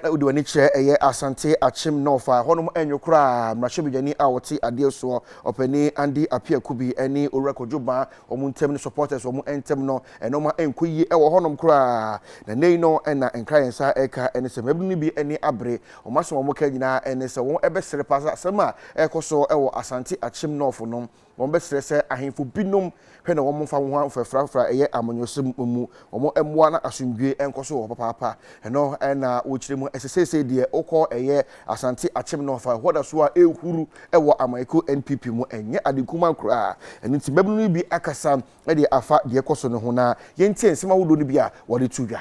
Wode w'ani kyerɛ ɛyɛ Asante Akyem North a, ɛhɔnom nyɛ koraa. Mmarahyɛbadwani a ɔte adeɛ soɔ, Ɔpanin Andy Appiah Kubi ne Owura Kojo Baa wɔn ntam ne supporters wɔn ntam no, nnoɔma nkɔ yie wɔ hɔnom koraa. Na nnɛ yi no na nkra yɛn nsa reka ne sɛ mmabunu no bi ani abere. Wɔn asɛm a wɔka nyinaa ne sɛ wɔbɛsere paa sɛ asɛm a ɛrekɔ so wɔ Asante Akyem North no Wɔbɛsrɛ sɛ ahemfo binom hwɛ na wɔmfa nwonwa mfrafraafra a ɛyɛ amanyɔsɛm mmu wɔn mmoa na asomdwoe nkɔ so wɔ hɔ papaapa. Ɛno na wokyerɛ mu sɛ seesei deɛ wokɔ ɛyɛ Asante akyem no fa hɔ da so a ɛrehuru wɔ amanyɛkuo NPP mu. Ɛnyɛ ade kumaa koraa. Ɛno nti mmabunu no bi akasa de afa deɛ ɛkɔ so no ho na yɛntie nsɛm ahodoɔ no bi a wɔde to dwa.